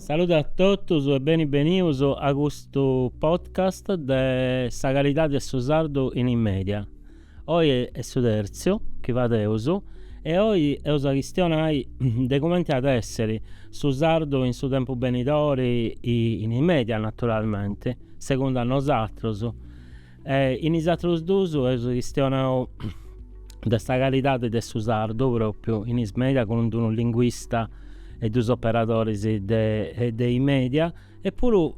Salude a totus e beni benius a custu podcast de sa calidadi de su sardu in is mèdia. Oi est su tertziu chi fadeus e oi eus a chistionai de cumenti at èssiri su sardu in su tempus benidori e in is mèdias naturalmenti, segundu a nosatrus. E in is àterus duus eus chistionau de sa calidadi de su sardu pròpriu in is mèdias cun unu linguista e duus operadoris de is mèdias. E puru,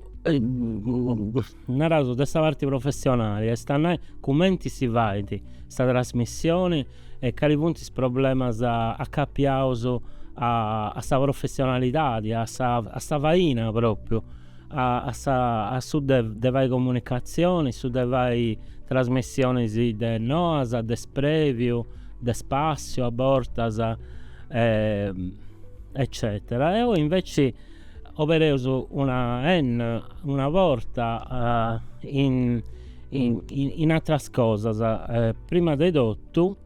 naraus de sa parti professionali, est a nai cumenti si fait sa trasmissioni e cali funt is problemas acapiaus a sa professionalidadi, a sa a sa faina propriu, a a sa a su de de fai comunicatzioni, su de fai trasmissionis de noas, de spreviu, de spassiu a bortas eccetera. E oi inveci Obereus una una porta in in àteras cosas prima de totu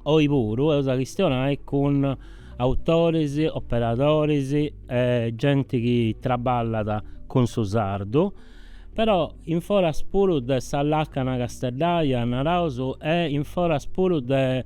oi puru eus a chistionai cun autoris, operadoris e genti chi traballat cun su sardu però in foras puru de sa làcana casteddaja naraus e in foras puru de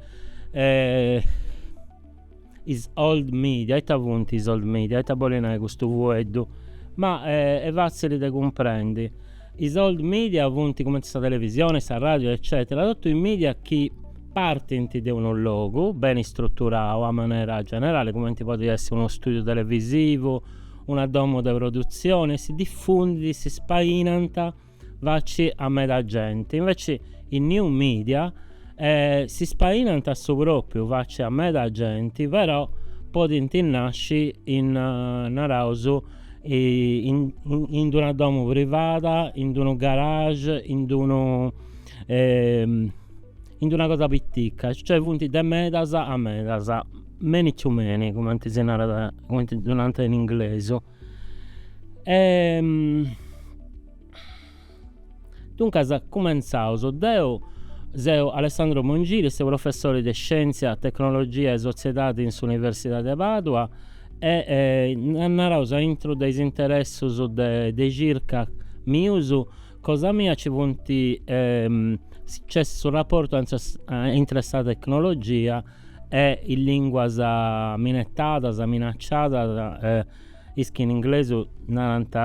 Is old media, ita funt is old media? Ita bolit nai custu fueddu? Ma est fatzili de cumprendi. Is old media funt cumenti sa televisioni, sa radiu eccetera, totu is media chi partint de unu logu, beni istruturau a manera generali, cumenti podit essi unu studiu televisivu, una domu de produtzioni, e si diffundint, si spainant, Faci a meda genti, inveci is New Media si spainant a su pròpriu faci a meda genti però podint nasci in naraus in d'una domu privada, in d'unu garage, in d'unu in d'una cosa pitica, cioè funt de medas a medas, many to many cumenti si narat, cumenti ddu narant in inglesu. Duncas cumentzaus, deu seu Alessandro Mongili, seu professori de Scièntzia, Tecnologia e Sotziedadi in s'Universidadi de Pàdua e naraus a intru de is interessus de circa mius, cosa mia nci funt, nc'est su raportu intre sa tecnologia e is lìnguas minetadas, minacciadas, is chi in inglesu narant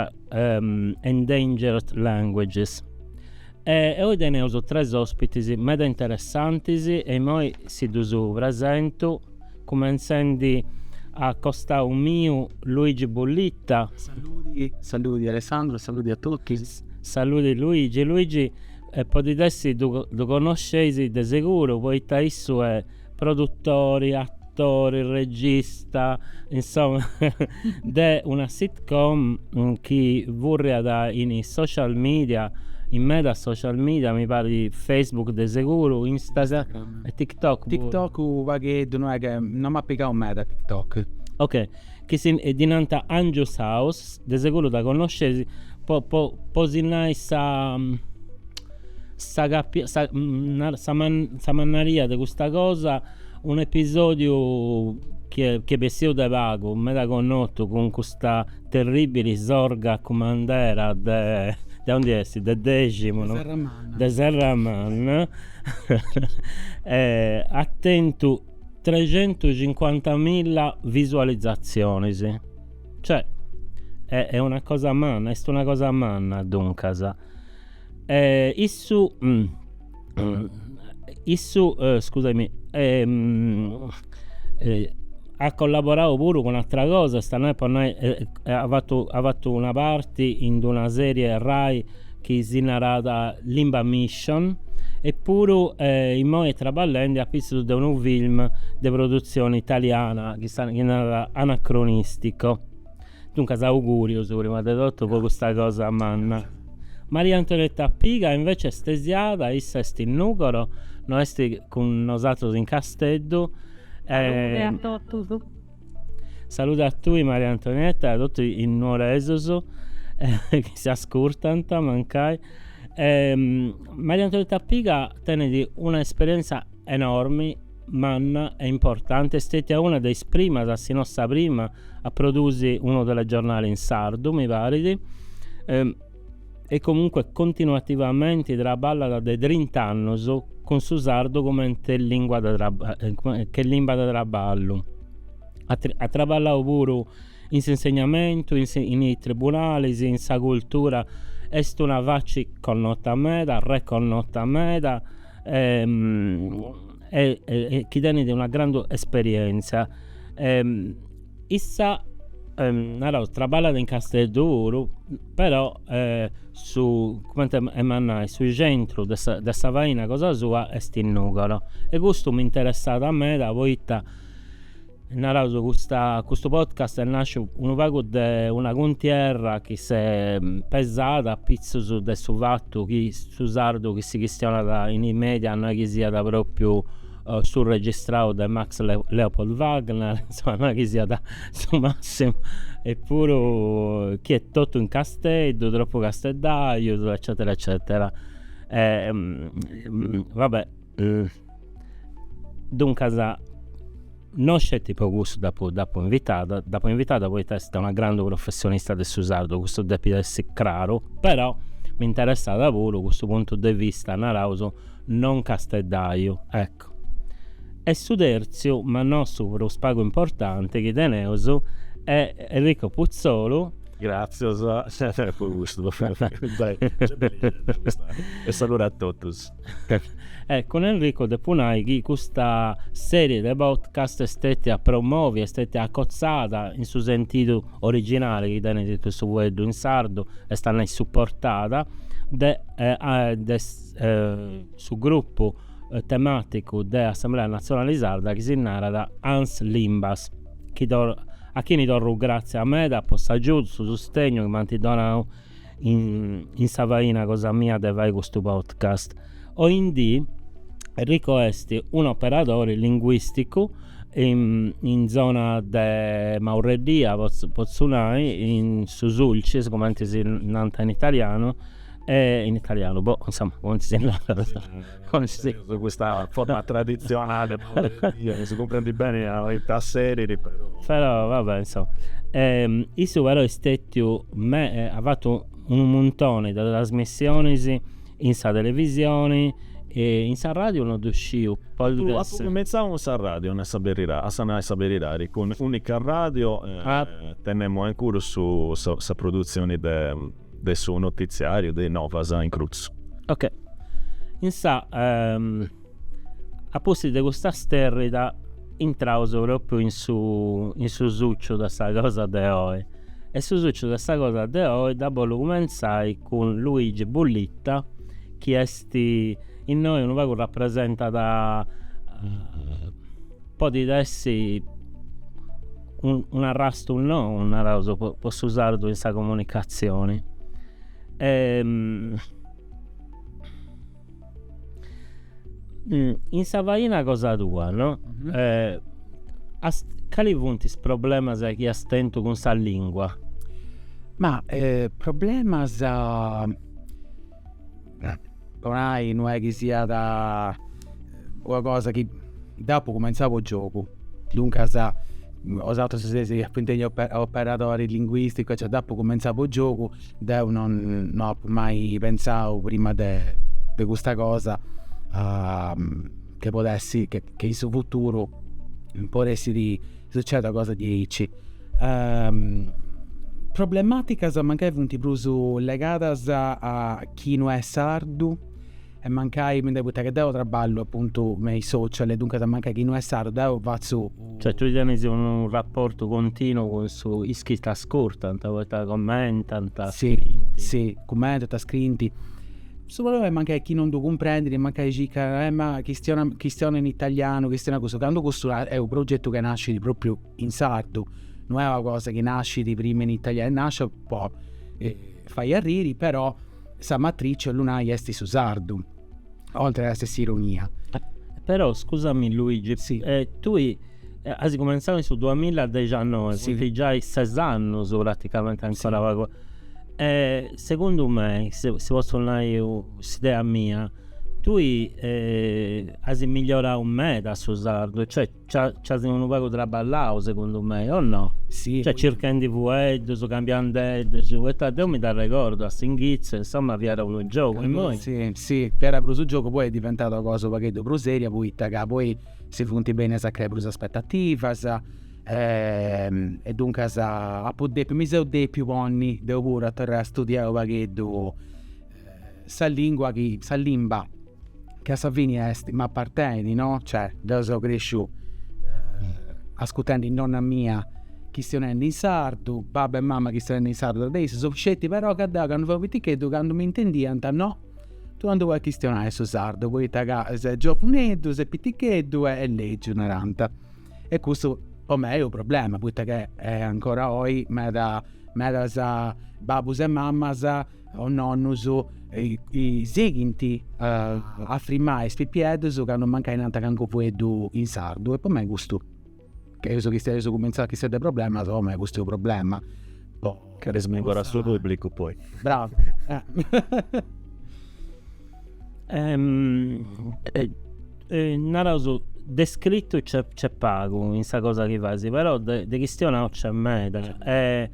endangered languages. E oi teneus tres òspitis meda interessantis e imoi si ddus presentu,, cumintzendi a costau miu Luigi Bullitta. Saludi, saludi Alessandro, saludi a totus. Saludi Luigi, Luigi E podit essi ddu connosceis de seguru poita issu est produtori, atori, regista, insoma, de una sitcom chi furriat in is social media, in medas social media, mi parit Facebook de seguru, Instagram e TikTok puru. TikTok u' pagheddu, no est ca, no m'at pigau meda TikTok. Ok. chi ddi nant Angius House, de seguru dda connosceis po po po si nai sa sa capi sa narat sa sa mannaria de custa cosa, un'episòdiu chi est chi est bessiu de pagu, meda connotu cun custa terribili sorga cumandera de de ondi est, de Deximu, de Serramanna, de Serramanna atentu trecentucincuantamilla visualizatzionis, cioè est una cosa manna, est una cosa manna duncas, e issu issu scusami at collaborau puru cun ateras cosas, ita nai po nai at fatu at fatu una parti in d'una serie Rai chi si narat Limba Mission, e puru imoi traballendi a pitzus de unu film de produtzioni italiana chi si narat Anacronistico. Duncas augùrius prima de totu po custa cosa manna. Maria Antonietta Piga invece est istesiada, issa est in Nùgoro, no est cun nosatrus in Casteddu e. Salute a totus. Saludi a tui Maria Antonietta e a totu is nuoresus chi s'ascurtant mancai. Maria Antonietta Piga tenit una esperienza enormi, manna e importanti, est stetia una de is primas, si no sa prima, a produsi unu telegiornali in sardu mi parit, e comunque continuativamente traballat de trinta annus cun su sardu comente lingua de che limba de traballu. At at traballau puru in s'insegnamentu, in in is tribunalis, in sa cultura, est una faci connota meda, reconnota meda e e chi tenit una grandu esperienza e Issa naraus traballat in Casteddu puru però su cumenti emu a nai su centru de sa de sa faina cosa sua est in Nùgoro e custu mi interessat meda poita naraus custa custu podcast est nasciu unu pagu de una cuntierra chi s'est pesada apitzus de su fatu chi su sardu chi si chistionat in is media no est chi siat propriu su registrau de Max Leopold Wagner, insoma, no est chi siat su massimu, e puru chi est totu in casteddu, tropu casteddajus, eccetera eccetera. va bè, duncas non sceti po cussu dd'apu dd'apu invitada, dd'apu invitada poita est una grandu professionista de su sardu, cussu depit essi craru, però m'interessat puru custu puntu de vista, naraus, Non Casteddaju, ecco. E su tertziu, ma no su prus pagu importanti chi teneus, est Enrico Putzolu. Gràtzias po custu. E saludu a totus. E cun Enrico depu nai chi custa sèrie de podcast est stètia promòvia, est stètia acotzada in su sentidu originali chi tenit su fueddu in sardu, est a nai suportada, de su grupu temàticu de Assemblea Natzionali Sarda chi si narat Ans Limbas, chi a chini torru gràtzia meda po s'agiudu, su sustegnu chi m'ant donau in sa faina cosa mia de fai custu podcast. Oindì Enrico est un'operadori linguìsticu in zona de Maurreddìa potzu nai, in su Sulcis cumenti si nant in italianu E in italianu, boh, insoma, cumenti si narat, cumenti si. Teneus custa forma traditzionali chi si cumprendit beni poita a serit, però. Però, va bè, insoma. Issu però est stetiu me, at fatu unu muntoni de trasmissionis in sa televisioni, in s'arradiu non ddu sciu, podit essi. Cumentzau cun s'arradiu, no est a berida, a sa nai sa beridadi, cun Unica Radio, tenemu a incuru su sa produtzioni de de su notitziàriu de Novas in crutzu. Ok. Insà a pustis de custa stèrrida intraus pròpriu in su in su suciu de sa cosa de oi. E su suciu de sa cosa de oi dda bolu cumentzai cun Luigi Bullitta chi est innoi unu pagu rapresentat podit essi unu arrastu nou, naraus, po su sardu in sa comunicatzioni. In sa faina cosa tua, no? Cali funt is problemas chi as tentu cun sa lingua? Ma problemas po nai no est chi siat una cosa chi dd'apu cumenzau po giogu, duncas bosatrus seis apu intendiu operadori linguisticu aici, dd'apu cumenzau po giogu, deu non no apu mai pentzau prima de de custa cosa che podessi, che in su futuru potessit Sucedi una cosa diaici. Problematicas mancai funt prus legadas a chi no est sardu e mancai, mi nd'hai poita che deu traballu apuntu me is social e duncas mancai chi no est sardu deu fatzu. Cioè tui tenis unu rapportu continu cun is chi t'ascurtant poita commentant, scriint. Si, si, commentant, scriint. Su problema che chi non ddu cumprendit e mancai circat, eh ma chistiona chistiona in italianu, chistiona cussu, candu custu est unu progetu chi nascit propriu in sardu, no est una cosa chi nascit prima in italianu, est nascia po fai arriri però sa matrici 'ollu nai est su sardu, oltre a essere s'ironia. Però scusami Luigi, tui As cumentzau in su duamilla dexannoe, funt giai ses annus praticamenti ancora pagu. E segundu mei, si si potzu nai s'idea mia, tui as migliorau meda su sardu, cioè nc'as unu pagu traballau segundu mei, o no? Si. Cioè circhendi fueddus, cambiandeddus, poita deu mi dd'arregordu a s'inghitzu, insoma, fiat unu giogu, immoi. Si, si, fiat prus giogu, poi est diventau una cosa u' pagheddu prus seria, poita ca poi si funt bennias a creai prus aspettativas e duncas apu depiu, mi seu depiu ponni deu puru a torrai a studiai u' pagheddu sa lingua chi, sa limba chi a sa fini est, m'apartenit no, cioè deu seu cresciu ascurtendi nonna mia chistionendi in sardu, babbu e mama chistionendi in sardu intre issus, sceti però ca deu candu fui piticheddu candu m'intendiant no Tui non ddu podis chistionai su sardu, poita ca ses giovuneddu, ses piticheddu est legiu, narant. E custu po mei est unu problema, poita ca ancora oi meda medas babus e mamas o nonnus sighint a frimai is pipieddus candu mancai nant calincunu fueddu in sardu e po mei custu Chi seus chistionendi seus cumintzendi a chistionai de problemas o me custu problema. Torraus pagu pagu a su publicu poi. Bravu. Naraus de scritu nc'est nc'est pagu in sa cosa chi fais, però de de chistionau nc'est meda e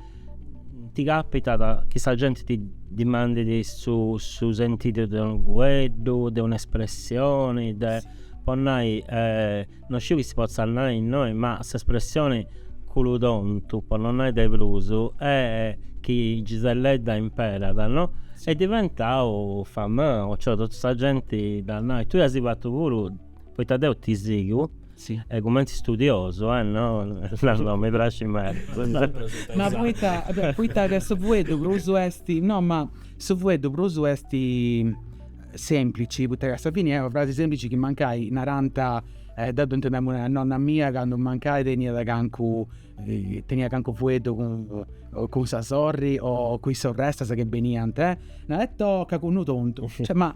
ti capitat chi sa genti ti dimandit su su sentidu de unu fueddu, de un'espressioni, po nai No sciu chi si potzat nai innoi, ma s'espressioni cunnu tontu, po no nai de prus, est chi Giselledda imperat, no? Est diventau famau, cioè totu sa genti dda narat, tui as fatu puru, poita deu ti sigu, e cumenti studiosu, eh, no, no, no, mi praxit meda. Ma poita, poita ca su fueddu prus est, no, ma su fueddu prus est, sèmplici, poita ca a sa fini est una frasi sèmplici chi mancai narant, deu dd'intendemu nai a nonna mia candu mancai teniat calincunu, teniat calincunu fueddu cun cun sa sorri o cun is sorrestas chi beniant, narant oh ca cunnu tontu, cioè ma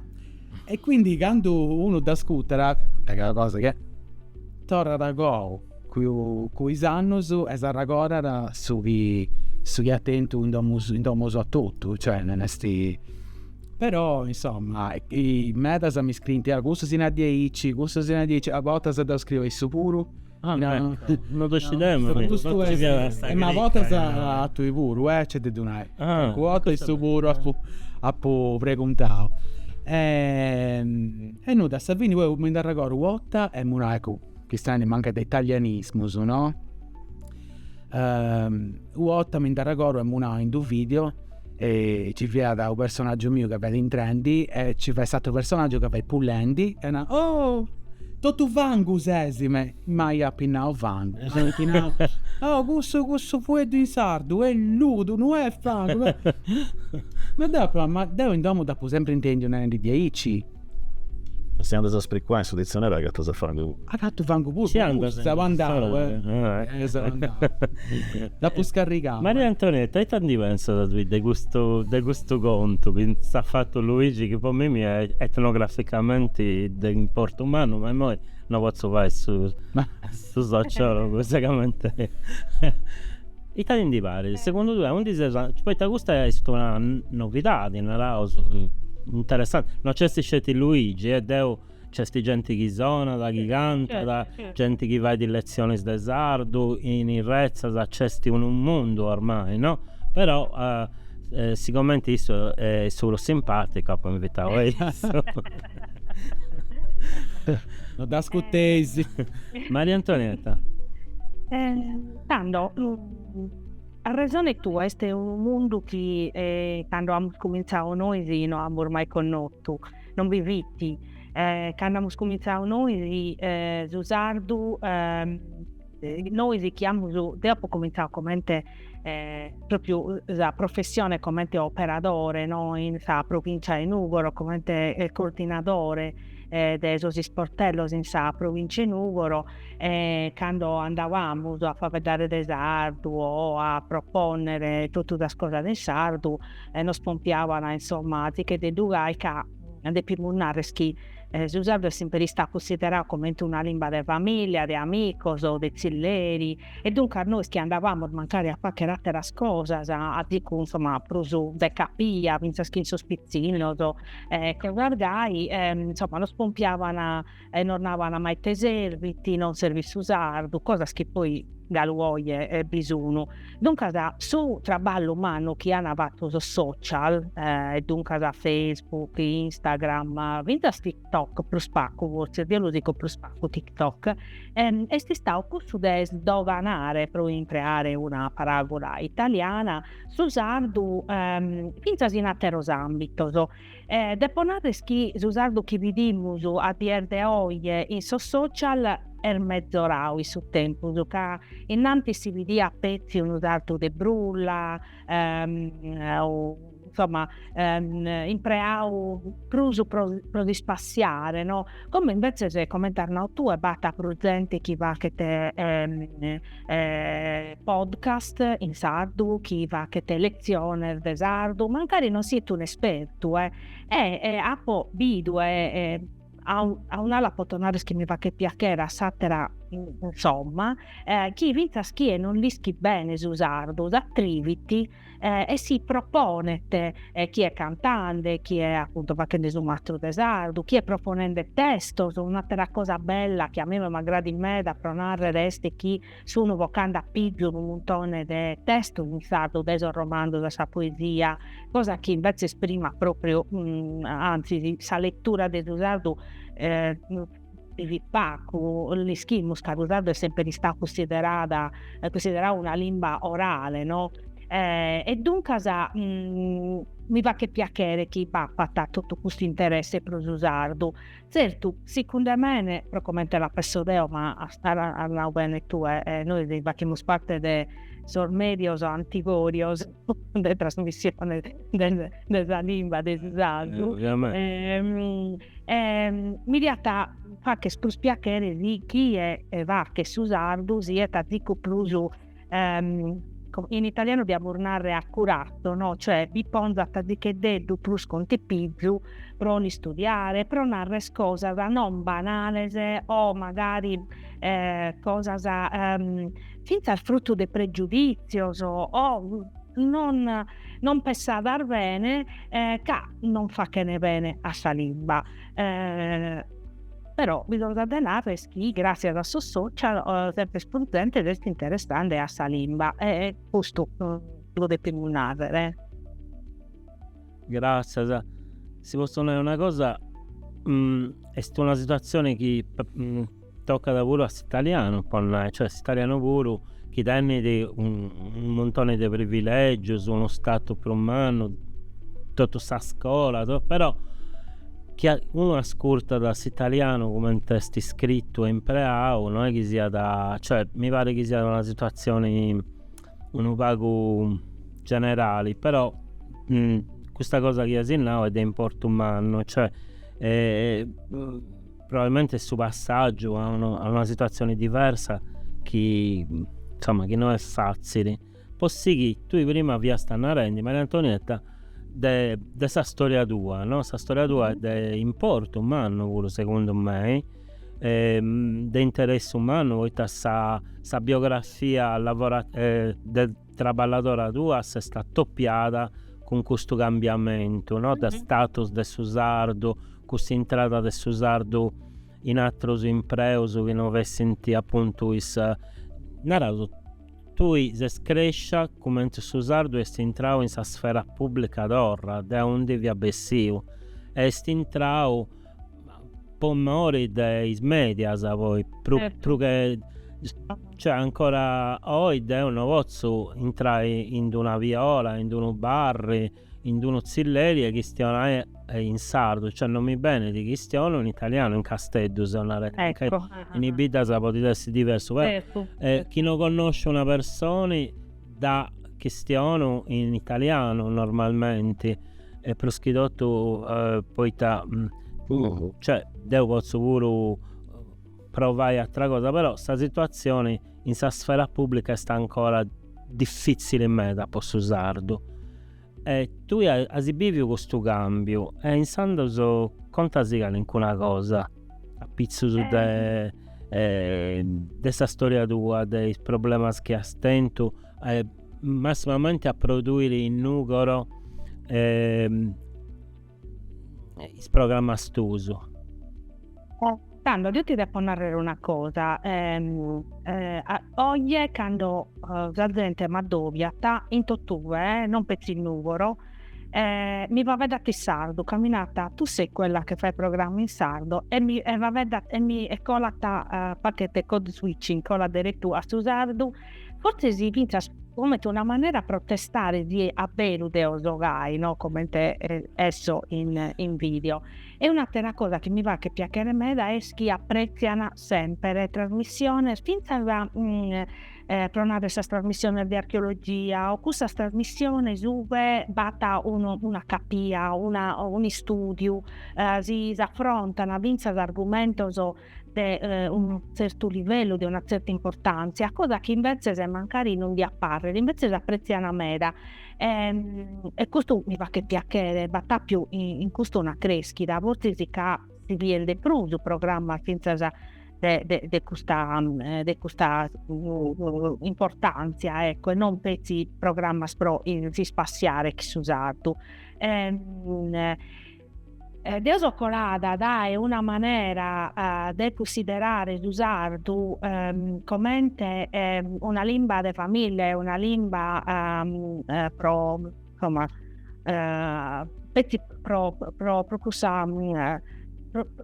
e quindi candu unu dd'ascutat, poita ca est una cosa chi torrat a goa cun is annus e s'arragodat su chi su chi at tentu in domu in domu a totu, cioè non est Però, insoma, medas mi scriint, ah, cussu si narat diaici, cussu si narat diaici, a bortas deu scriu a issu puru. Ah, no, no ddu scideus mi, custu est, e ma a bortas a tui puru, eh, nc'est de ddu nai. Ah. Calincuna 'orta a issu puru apu, apu preguntau. E nudda, a sa fini oe mi nd'arregordu u' 'orta, emu nai, eccu, chistionendi mancai de italianismus, no, u' 'orta mi nd'arregordu emu nau in d'u' video e ci fiat u' personaggiu miu ca fiat intrendi e ci fiat s'atteru personaggiu ca fiat pulendi e narat, oh totu fangu ses, mamai, apu nau fangu, m'iant nau, oh cussu cussu fueddu in sardu est ludu no est fangu, ma deu apu nau, ma deu in domu dd'apu sempri intendiu narendi diaici Si andas a sprigulai in su ditzionariu agatas a fangu. Agatu fangu puru. Si andas. Seu andau, eh. Seu andau. Dd'apu scarrigau. Maria Antonietta, ita ndi pentzas de custu de custu contu chi s'at fatu Luigi chi po mimmi est etnograficamenti de importu mannu, ma immoi no potzu fai su sociologu, seguramenti. Ita ti ndi parit? Segundu tue, aundi seus andendi? Poita custa est una novidadi, naraus, interessanti. No nc'est sceti Luigi e deu, nc'est genti chi sonat, chi cantat, genti chi fait letzionis de sardu, in is retzas nc'est unu mundu ormai, no? Però, sigomenti issu est su prus simpaticu apu invitau a issu. No dd'ascuteis. Maria Antonietta. Tando a resone tua est unu mundu chi cando amus cumintzadu nois no amus mai connotu, non bi fit, cando amus cumintzadu nois su sardu nois chi amus, deo apu cumintzadu comente propriu sa professione comente operadore no in sa provincia 'e Nùgoro comente coordinadore de sos isportellos in sa provincia 'e Nùgoro e cando andàbamus a faeddare de sardu o a propònnere totu sas cosas in sardu nos pompiaban insomma tzicheddu gai ca depimus narrer chi su sardu est semper istadu cunsideradu comente una limba de famìllia, de amicos, de tzilleri e duncas nois chi andàbamus mancari a fàghere àteras cosas a tzicu insomma prus de capia fintzas chi in sos pitzinnos e cosas gai insomma nos pompiaban e nos naban ma ite servit, non servit su sardu, cosas chi poi galu oje bi sun. Duncas su traballu mannu chi an fatu sos social, e duncas Facebook, Instagram, fintzas TikTok prus pacu fortzis, deo lu sigo prus pacu TikTok, est istadu cussu de sdoganare, pro impreare una paràgula italiana, su sardu fintzas in ateros ambitos E depo narrer chi su sardu chi bidimus a dies de oje in sos social est metzoradu in su tempus, ca innantis si bidiat petzi unu sardu de brulla, insomma, impreadu prus pro pro s'ispassiare no, como invetzes comente as nadu tue b'at prus zente chi fachet podcast in sardu chi fachet letziones de sardu, mancari non siet unu espertu e apo bidu e a un'ala apo potu narrer chi mi fachet piachere, a s'atera insomma, chi fintzas chie non l'ischit bene su sardu s'atrivit eh, e si proponet eh, chie cantande, chie appunto fachende su mastro de sardu, chie proponende testos, un'atera cosa bella chi a mie m'agradat meda pro narrere est chi sunu vocande a pizu unu muntone de testos in sardu, dae sos romanzos a sa poesia, cosa chi invetzes prima propriu, mh, mm, anzi sa lettura de su sardu eh, in pacu l'ischimus ca su sardu est semperi istau cussiderada cussiderau una limba orale no e duncas mi faghet piachere chi b'apat totu custu interesse pro su sardu, tzertu sicunde mene pro comente la penso deo ma as nau bene tue nois fachimus parte de sos medios anticorios de trasmissione de sa limba de su sardu e mi diat facher prus piachere si chie fachet su sardu siat azicu prus in italianu diamus narrer accurato no, cioè bi ponzat azicheddeddu prus contipizu pro l'istudiare, pro narrer cosas non banales o magari cosas fintzas frutu de pregiudìtzios o non non pensadas bene ca non fachene bene a sa limba. Però bi nd'at de narrer est chi gràtzias a sos social semper prus zente s'est interessande a sa limba e custu lu depimus nàrrere. Gràtzias. Si potzu nai una cosa, est una situatzione chi Tocat puru a s'italianu, po nai, cioè s'italianu puru chi tenit unu muntoni de privilègius, unu statu prus mannu, totu sa scola, to, però chi a, unu ascurtat s'italianu cumenti est iscritu e impreau, no est chi siat, cioè mi parit chi siat una situatzioni unu pagu generali, però custa cosa chi as nau est de importu mannu, cioè Probabilmente est su passàgiu a unu a una situatzione diversa chi, insoma, chi no est fàtzili. Po sighiri, tui prima fiasta narendi, Maria Antonietta, de de sa storia tua, no, sa storia tua est de importu mannu puru segundu mei, de interessu mannu poita sa sa biografia lavo de traballadora tua s'est atopiada cun custu cambiamentu no de status de su sardu, custa intrada de su sardu in atrus impreus chi no fessint apuntu is, naraus, tui ses crescia cumenti su sardu est intrau in sa sfera pubblica torra de aundi fiat bessiu e est intrau po mori de is medias poi prus prus che cioè ancora oi deu no potzu intrai in d'una viola in d'unu barri in d'unu tzilleri e chistionai in sardu cioè non mi benit chistionu in italianu in casteddu seu narendi ca in is biddas podit essi diversu però chi no connosciu una personi Dda chistionu in italianu normalmenti e prus chi totu poita cioè deu potzu puru provai atra cosa però sa situazioni in sa sfera publica est ancora diffizzili meda po su sardu E tui as biviu custu cambiu e insandos contasì calincuna cosa a pitzus de de sa storia tua de is problemas chi as tentu e massimamenti a produiri in Nùgoro e is programmas tuus. Tando deo ti depo narrere una cosa, oe cando sa zente m'addobiat in totue, non petzi Nùgoro, mi faeddat in sardu ca mi narant, tu sei quella che fa il programma in sardo e mi faeddat e mi e colat, faghet code switching colat deretu a su sardu Fortzis fintzas comente una manera a proare a testare si a beru deo so gai, no comente esso in in video. E un'attera cosa chi mi faghet piachere meda est chi apprezzian semper trasmissiones fintzas pro narrer sas trasmissiones de archeologia o cussas trasmissiones ue b'at unu un'ischire, una un'istudiu si s'affrontan fintzas argumentos de eh, un certu livellu, de una certa importantzia, cosa chi invetzes mancari non diat parrer, invetzes apretziant meda. E, ehm, e custu mi faghet piachere, b'at apiu in, in custu una creschida, fortzis ca si bient de prus programmas fintzas de, de, de custa, eh, de custa uh, importantzia, ecco, e non petzi programmas pro si spassiare chi su sardu. E, ehm, Deo so colada dae una manera de cunsiderare su sardu comente una limba de famìllia e una limba pro insomma pro pro cussa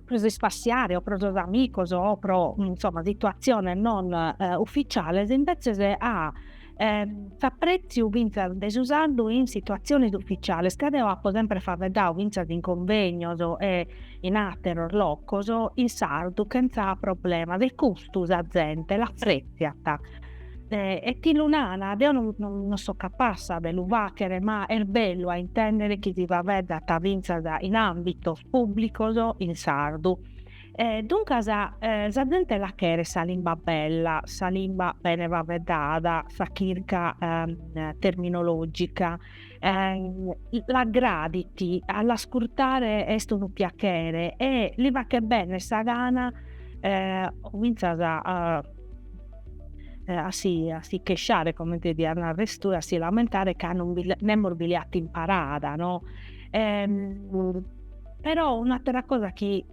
pro si spassiare o pro sos amigos o pro insomma situatziones non ufficiales, invètzes a s'aprètziu fintzas de su sardu in situatziones uficiales, ca deo apo semper faeddadu fintzas in convegnos e in àteros locos in sardu chentza problemas e custu sa zente l'aprètziat e ti lu nana, deo non so capassa de lu fàghere ma est bellu a intèndere chi si faeddat fintzas in àmbitos pùblicos in sardu E duncas sa zente la cheret sa limba bella, sa limba bene faeddada, sa chirca terminologica l'agradit, a l'ascurtare est unu piachere e li faghet bene sa gana comintzas a a si a si chesciare, comente diat nares tue, a si lamentare ca nemos bi l'at imparada no Però un'atera cosa chi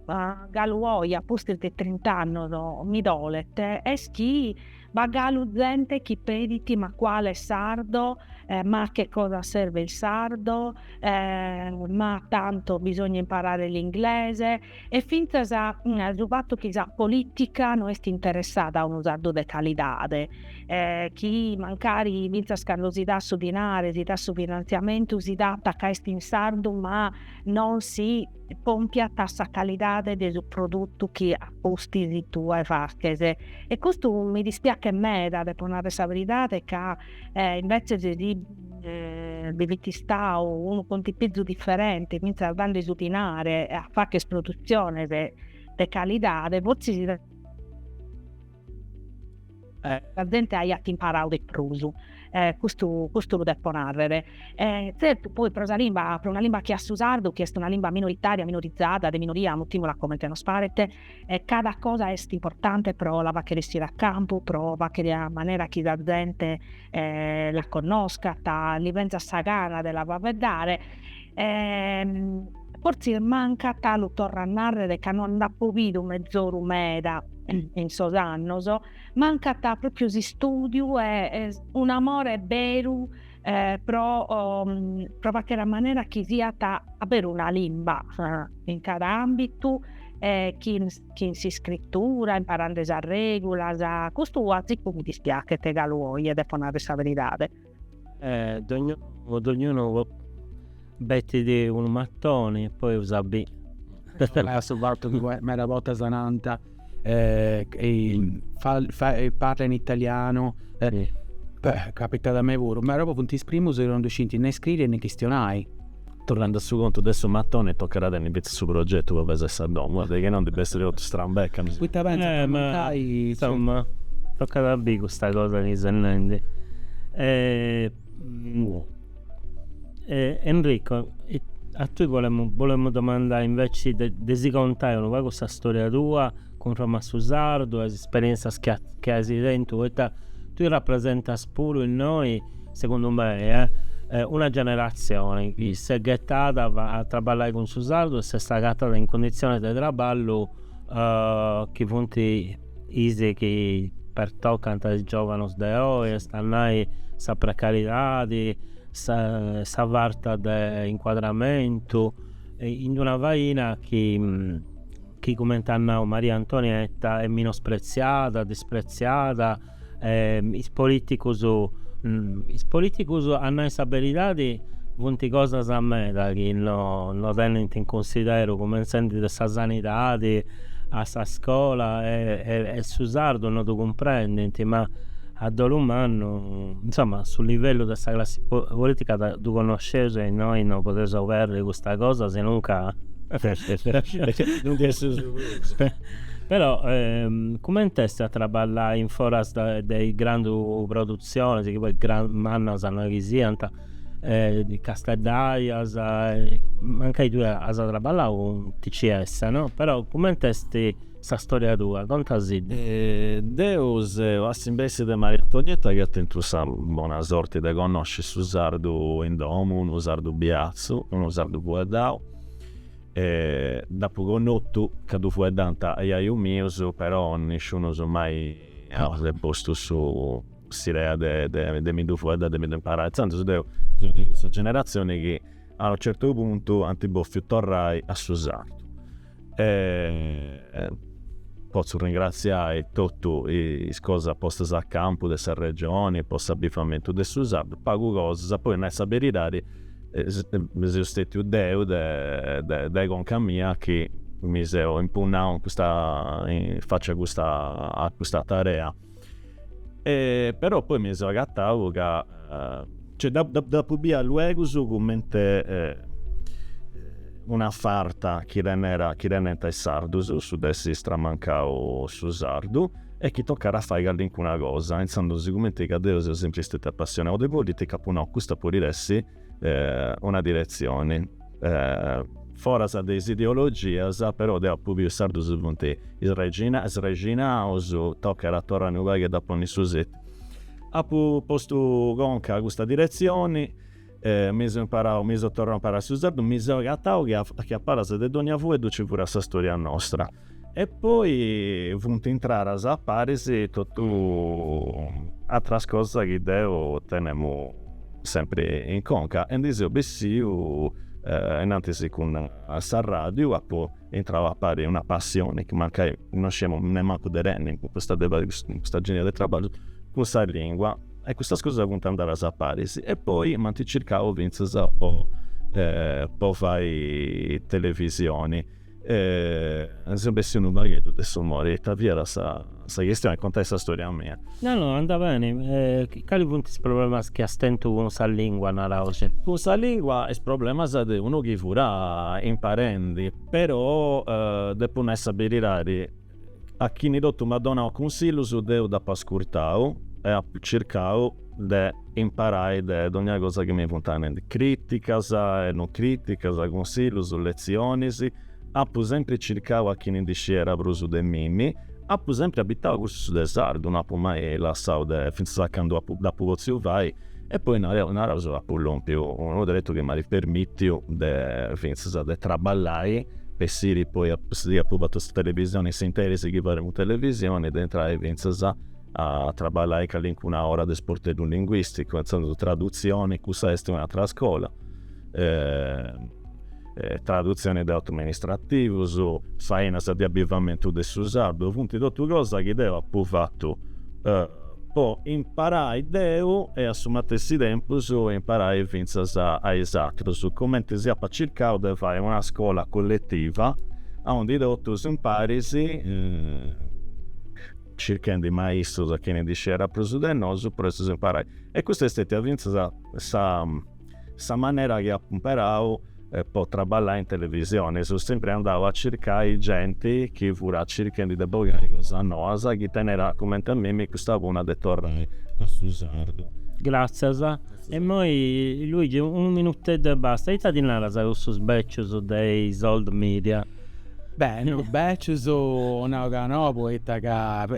galu oje a pustis de trint'annos mi dolet est chi b'at galu zente chi pedit: ma quale sardo, ma a che cosa serve il sardo, ma tanto bisogna imparare l'inglese e fintzas su fatu chi sa politica no est interessada a unu sardu de calidade, chi mancari fintzas cando si dat su dinare, si dat su finantziamentu, si dat ca est in sardu ma non si pompiat sa calidade de su produtu chi a pustis tue faches e custu mi dispiachet meda, depo narrer sa beridade, ca invece si bi fit istadu unu contipizu diferenti finzas dande su dinare a facher produtziones de calidade, fortzis Eh. Sa zente aiat imparau de prus, eh, custu, custu lu depo narrere. Eh, zertu, poi pro sa limba, pro una limba che a su sardu, chi est una limba minoritaria, minorizada, de minoria, mutìmula comente nos paret, eh, cada cosa est importante pro la faghere essire a campu, pro faghere a manera chi sa zente, eh, la connoscat, li benzat sa gana de la faeddare, E fortzis mancat lu torro a narrer ca no nd'apo bidu mezoru meda in sos annos, mancat propriu s'istùdiu e un'amore beru pro pro facher a manera chi siat a beru una limba in cada ambitu e chin chin s'iscritura, imparande sas regulas, custu a ziccu mi dispiachet galu oje depo narrer sa beridade. E dognunu dognunu bettit unu matoni e poi bai a biri su fatu chi medas bortas nant parla in italianu, beh capitat a mei puru, ma però funt is primus chi non ddu scint nè scriri e nè chistionai. Torrendi a su contu de su matoni tocat a tenni fintzas su progetu po pesai sa domu, poita chi no ndi bessit totu strambecamus. Poita pentzas de ammentai. Insomma tocat a biri custa cosa chi ses nendi. Enrico, a tui bolemu bolemu domandai inveci de de si contai unu pagu sa storia tua cun Roma a su sardu e is isperienzias chi as chi as tentu poita tui rapresentas puru innoi Segundu mei est una generatzioni chi s'est ghetada a traballai cun su sardu e s'est agatada in cunditzionis de traballu chi funt is chi pertocant a is giovanus de oi, est a nai sa precaridadi, sa farta de incuadramentu, in una faina chi chi cumenti at nau Maria Antonietta est minospretziada, dispretziada. e is politicus is politicus a nai sa beridadi funt cosas meda chi no no tenint in cunsideru cumentzendi de sa sanidadi a sa scola e su sardu no ddu cumprendint ma a dolu mannu insoma su livellu de sa classi politica ddu connosceus e innoi no podeus oberri custa cosa sinunca Però cumenti est a traballai in foras de is grandu produtzionis, chi poi mannas no est chi siant, casteddajas, mancai tui as traballau cun TCS, no, però cumenti est sa storia tua, contasidda. Deu seu a s'imbessi de Maria Antonietta chi at tentu sa bona sorti de connosci su sardu in domu, unu sardu biatzu, unu sardu fueddau, E dd'apu connotu ca ddu fueddànt jajus mius, però nisciunus mai at postu s'idea de mi ddu fueddai, de mi ddu imparai. Intzandus deu seu de cussa generatzioni chi a unu certu puntu ant bòfiu torrai a su sardu. E potzu ringratziai totu is cosas postas a campu de sa Regioni po s'abivamentu de su sardu, pagu cosas, po nai sa beridadi seu stetiu deu de conca mia chi mi seu impunnau in faci a custa tarea. Però poi mi seu agatau ca, cioè dd'apu bia luegu cumenti una farta chi tenent is sardus, su de essi stramancau su sardu e chi tocat a fai callincuna cosa, intzandus sigumenti ca deu seu sempri stetiu apassionau de politica apu nau custa podit essi una diretzioni foras de is ideologias, però deu apu biu is sardus funt srexinaus, tocat a torrai unu pagu a dda ponni a setiu. Apu postu conca a custa diretzioni mi seu imparau, mi seu torrau a imparai su sardu, mi seu agatau chi a palas de dogna fueddu nci fiat sa storia nostra. E poi funt intradas a paris totu ateras cosas chi deu tenemu sempri in conca e ndi seu bessiu innantis cun s'arradiu, apu intrau a pari una passioni chi mancai non sciemu nemmancu de tenni po custa de fai custa genia de traballus cun sa lingua. e custas cosas funt andadas a paris e poi m'ant circau fintzas po po fai televisioni e seu bessiu unu pagheddu de su mori, ita fiat sa sa chistioni, contai sa storia mia. No no andat beni, cali funt is problemas chi as tentu cun sa lingua, naraus? Cun sa lingua is problemas de unu chi fudiat imparendi, però depu nai sa beridadi A chini totu m'at donau cunsillus deu dd'apu ascurtau e apu circau de imparai de dogna cosa chi mi fuant nendi, crìticas e non crìticas, cunsillus, letzionis. Apu sempri circau a chini ndi sciera prus de mimi. Apu sempri abitau cursus de sardu, no apu mai lassau de, fintzas a candu dd'apu potziu fai, E poi nareus, apu lompiu unu tretu chi m'at permitiu de fintzas de traballai po essiri poi, si apu fatu sa televisioni in s'interis chi faremus televisioni, de intrai fintzas a traballai calincuna ora de sporteddu linguisticu, intzandus tradutzioni, cussa est un'atera scola tradutzioni de atus amministrativus, fainas de avivamentu de su sardu, funt totu cosa chi deu apu fatu po imparai deu e a su matessi tempus imparai fintzas a is atrus, cumenti chi apu circau de fai una scola colletiva aundi totus impari, circhendi maistrus a chini ndi scerat prus de nosu po essi imparaus. E custa est stetia fintzas sa Sa manera chi apu imperau po traballai in televisioni, seu sempri andau a circai genti chi furat circhendi de bogai cosas noas, chi tenerat cumenti a mimi custa punna de torrai a su sardu. Gràtzias. E imoi, Luigi, unu minuteddu e basta, ita ddis naras a cussus bècius de is old media? Beh, no becius nau ca nou poita ca sa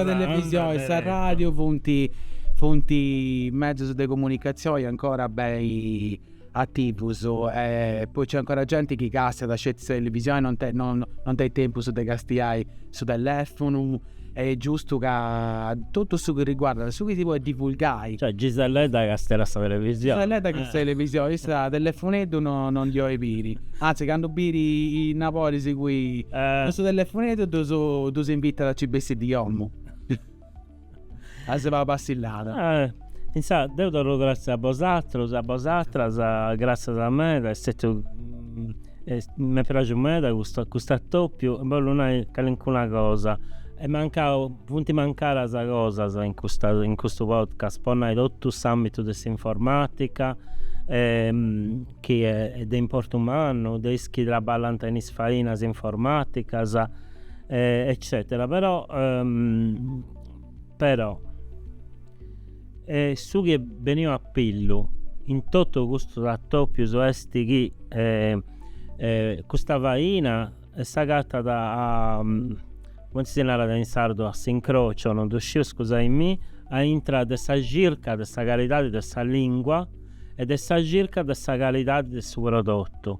televisioni e sa radiu funti funti mezus de comunicazioni ancora beni ativus e poi nc'est ancora genti chi castiat sceti sa televisioni non tenit tempus de castiai su telefunu e est giustu ca totu su chi riguardat su chi si podit divulgai. Cioè Giselledda càstiat sa televisioni. Giselledda càstiat sa televisioni, issa telefoneddu non ndi 'olit biri, anzi candu bit is nabodis suus cun su telefoneddu ddus invitat a nci bessi de domu a si fai una passillada. Insaras deu torru gratzias a bosatrus, a bosatras, gratzias meda, est stètiu m'est praxiu meda custu custu atopiu, bollu nai calincuna cosa, ant mancau, funt mancadas cosas in custa in custu podcast, po nai totu s'ambitu de s'informatica chi est de importu mannu, de is chi traballant in is fainas informaticas eccetera però però E su chi est beniu a pillu in totu custus atopius est chi custa faina s'agatat a, cumenti si narat in sardu, a s'incrocio, non ddu sciu scusai-mi, a intra de sa circa de sa calidadi de sa lingua e de sa circa de sa calidadi de su prodotu.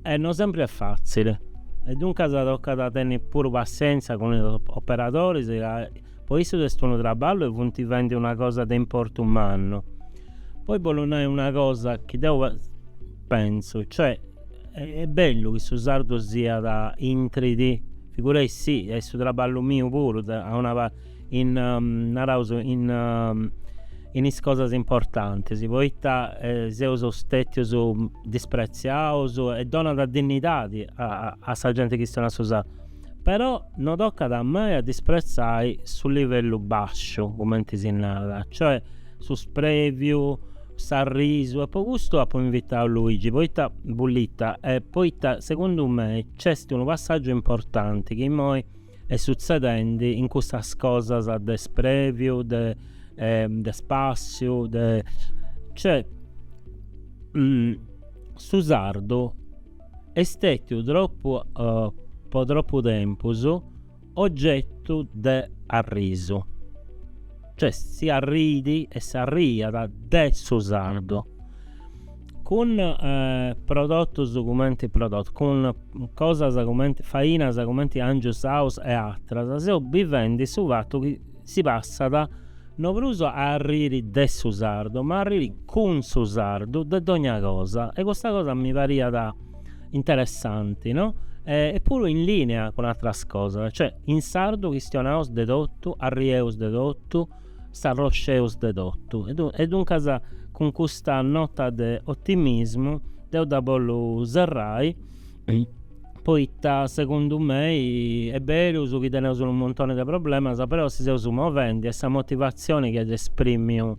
E no sempri est fatzili. E duncas tocat a tenni puru passienzia cun is operadoris ca Po issos est unu traballu e funt faendi una cosa de importu mannu. Poi bollu nai una cosa chi deu pentzu, cioè est bellu chi su sardu siat intrit, figurai-sì, est su traballu miu puru de a una parti, in, naraus, in in is cosas importantis, poita seus stètius dispretziaus e donat dinnidadi a sa genti chi chistionat su sardu. Però no tocat mai a dispretzai su livellu basciu, cumenti si narat, cioè su spreviu, s'arrisu e po custu apu invitau Luigi poita Bullita, e poita segundu mei nc'est unu passàgiu importanti chi imoi est sutzedendi in custas cosas de spreviu, de de spassiu, de cioè su sardu est stètiu tropu po tropu tempus ogetu de arrisu, cioè si arriit e s'arriiat de su sardu, cun prodotus cumenti prodotus, cun cosas cumenti fainas cumenti angius, aus e atras, seus bivendi su fatu chi Si passat, no prus a arriri de su sardu, ma a arriri cun su sardu de dogna cosa, e custa cosa mi pariat interessanti, no? E puru in linea cun atras cosas, cioè in sardu chistionaus de totu, arrieus de totu, s'arrosceus de totu. E duncas cun custa nota de otimismu deu dda bollu serrai, Poita segundu mei est berus chi teneus unu montoni de problemas però si seus movendi e sa motivatzioni chi at esprimiu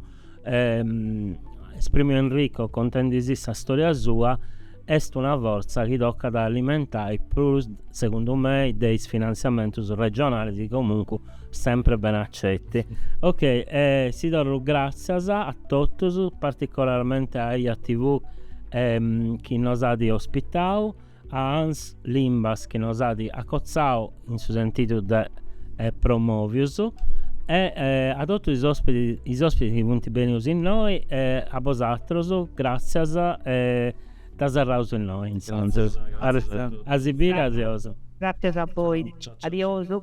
esprimiu Enrico contendi-sì sa storia sua est una fortza chi tocat a alimentai prus segundu mei de is finantziamentus regionalis chi comunque Sempre ben accetti. Ok, e si torru gràtzias a totus, particolarmente a Eja TV chi nos at ospitau, a ANS Limbas chi nos at acotzau in su sentidu de promòvius e a totus is òspitis chi funt bènius innoi e a bosatrus gràtzias e dda serraus innoi intzandus. Arrestau. A si biri, adiosu. Gràtzias a boi, adiosu.